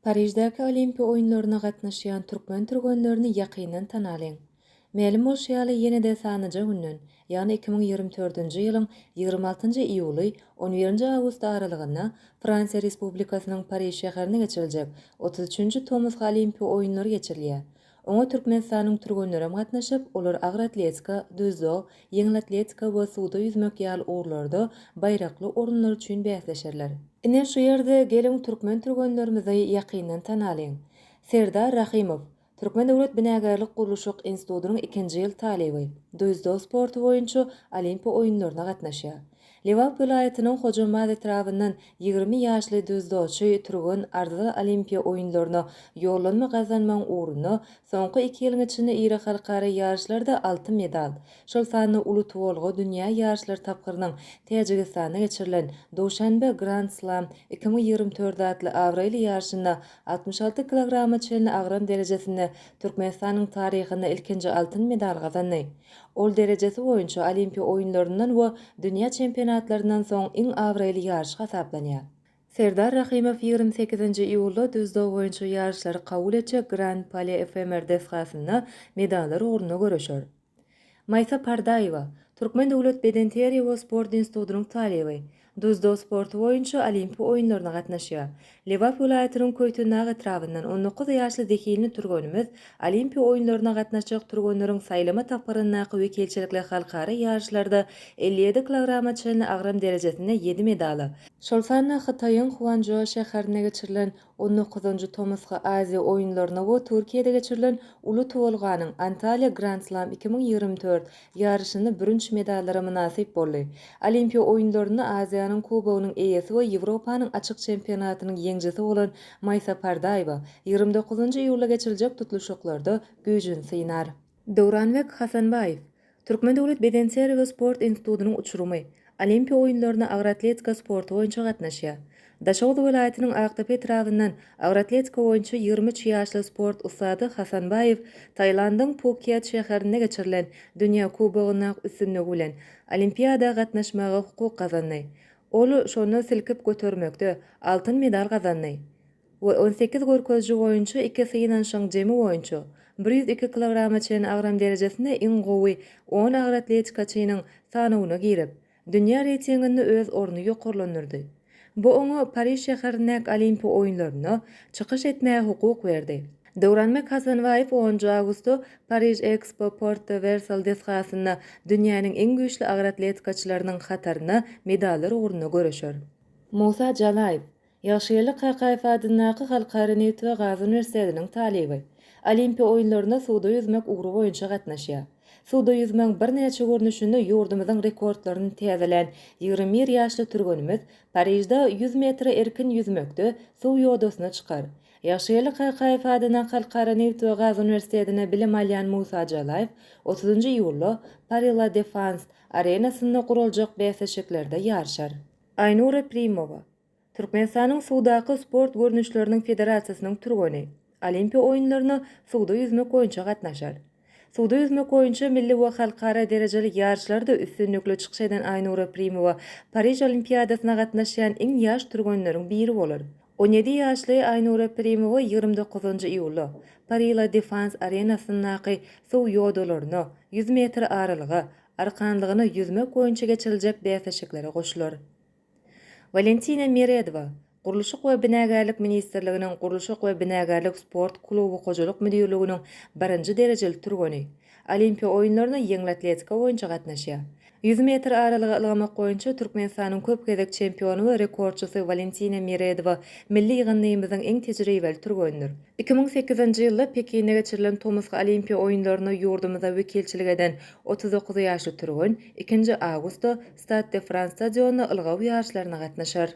Pariždäki Olimpiýa oýunlaryna gatnaşýan türkmen türgenlerini ýakyndan tanalyň! Mälim bolşy ýaly, ýene-de sanaja günden, ýagny iki müň ýigrimi dördünji ýylyň ýigrimi altynjy iýuly, on birinji awgust aralygynda Fransiýa Respublikasynyň Pariž şäherinde geçiriljek otuz üçünji Tomusky Olimpiýa oýunlary geçirilýär. Oňa Türkmenistanyň türgenleri hem gatnaşyp, olar agyr atletika, dzýudo, ýeňil atletika we suwda ýüzmek ýaly ugurlarda baýrakly orunlar üçin bäsleşerler. Ine, şu ýerde geliň türkmen türgenlerimizi ýakyndan tanalyň. Serdar Rahymow, Türkmen döwlet binagärlik-gurluşyk institutynyň ikinji ýyl talyby, dzýudo sporty boýunça Olimpiýa oýunlaryna gatnaşýar. Lebap welaýatynyň Hojambaz etrabyndan ýigrimi ýaşly dzýudoçy türgen Arzyly Olimpiýa oýunlaryna ýollanma gazanmagyň ugrunda soňky iki ýylyň içinde iri halkara ýaryşlarda altyn medal, şol sanda uly tuwulga dünýä ýaryşlary tapgyrynyň Täjigistanda geçirilen Duşanbe Grand Slam iki müň ýigrimi dört atly abraýly ýaryşynda altmyş alty kilograma çenli agram derejesinde Türkmenistanyň taryhynda ilkinji altyn medal gazandy. Ol derejesi boýunça Olimpiýa oýunlaryndan we dünýä çempionatlaryndan soň iň abraýly ýaryş hasaplanýar. Serdar Rahymow ýigrimi sekizinji iýulda düzdag boýunça ýaryşlary kabul etjek Grand Palais efemer desgasynda medallar ugrunda göreşer. Maýsa Pardaýewa, Türkmen döwlet bedenterbiýe we sport institutynyň talyby, Dzdo sporty boýunça Olimpi oýunlaryna gatnaşýar. Lebap welaýatynyň Köýtendag etrabyndan on dokuz ýaşly zehinli türgenimiz Olimpi oýunlaryna gatnaşjak türgenleriň saýlama tapgyryndaky wekilçilikli halkara ýaryşlarda elli ýedi kilograma çenli agram derejesinde ýedi medala, şol sanda Hytaýyň Huançžou şäherinde geçirilen On dokuzynjy tomusky Aziýa oýunlaryna we Türkiýede geçirilen Uly tuwulganyň, Antalýa Grand Slam iki müň ýigrimi dört, ýaryşynda bürünç medallara mynasyp boldy. Olimpiýa oýunlarynda Aziýanyň Kubogynyň eýesi we Ýewropanyň açyk çempionatynyň ýeňjisi bolan Maýsa Pardaýewa ýigrimi dokuzynjy iýulda geçiriljek tutluşyklarda güýjüni synar. Döwranbek Hasanbaýew, Türkmen döwlet bedenterbi we sport institutynyň uçurymy, Olimpiýa oýunlaryna agroatletika sporty boýunça gatnaşýar. Daşoguz welaýatynyň Akdepe etrabyndan agroatletika boýunça ýigrimi üç ýaşly sport ussady Hasanbaýew Tailandyň Pukiet şäherinde geçirilen Dünýä kubogynda üstünligi bilen Olimpiada gatnaşmaga hukuk gazandy. Ol şonda silkip götermekde altyn medal gazandy. we on sekiz görkeziji boýunça iki synanyşyň jemi boýunça bir ýüz iki kilograma çenli agram derejesinde iň gowy on agyr atletikaçynyň sanawyna girip, dünýä reýtinginde öz ornuny ýokarlandyrdy. Bu oňa Pariž şäherindäki Olimpiýa oýunlarynda çykyş etmäge hukuk berdi. Döwranbek Hasanbaýew onunjy awgustda Pariž Expo Porte Versal desgasynda dünýäniň iň güýçli agyr atletikaçylarynyň hatarynda medallar ugrunda göreşer. Musa Jalaýew, Ýagşygeldi Kakaýew adyndaky Halkara neft we gaz uniwersitetiniň talyby. Olimpiýa oýunlaryna suwda ýüzmek ugry boýunça gatnaşýar. Suwda ýüzmegiň birnäçe görnüşinde ýurdumyzyň rekordlaryny täzelän ýigrimi bir ýaşly türgenimiz Parižde ýüz metre erkin ýüzmekde suw ýodasyna çykar. Ýagşygeldi Kakaýew adyndaky Halkara neft we gaz uniwersitetinde bilim alýan Musa Jalaýew otuzynjy iýulda Paris La Defans arenasynda guraljak bäsleşiklerde ýaryşar. Aýnur Eprimowa, Türkmenistanyň suwdaky sport görnüşleriniň federasiýasynyň türgeni Olimpiýa oýunlaryna suwda ýüzmek boýunça gatnaşar. Suwda ýüzmek boýunça milli we halkara derejeli ýaryşlarda üstünlikli çykyş eden Aýnura Primowa Pariž Olimpiadasyna gatnaşýan iň ýaş türgenleriň biri bolar. On ýedi ýaşly Aýnura Primowa ýigrimi dokuzynjy iýulda Paris La Défense arenasyndaky suw ýodalaryna, ýüz metr aralyga, arkanlygyna ýüzmek boýunça geçiriljek bäsleşiklere goşular. Walentina Meredowa, Gurluşyk we binagärlik ministrliginiň Gurluşyk we binagärlik sport kluby hojalyk müdirliginiň birinji derejeli türgeni. Olimpiýa oýunlaryna ýeňil atletika boýunça gatnaşýar. Ýüz metr aralyga ylgamak boýunça Türkmenistanyň köp gezek çempiony we rekordçysy Walentina Meredowa milli ýygyndymyzyň iň tejribeli türgenidir. Iki müň sekizinji ýylda Pekinde geçirilen tomusky Olimpiýa oýunlaryna ýurdumyza wekilçilik eden Otuz dokuz ýaşly türgen ikinji awgustda Stad de Frans stadionynda ylgaw ýaryşlaryna gatnaşar.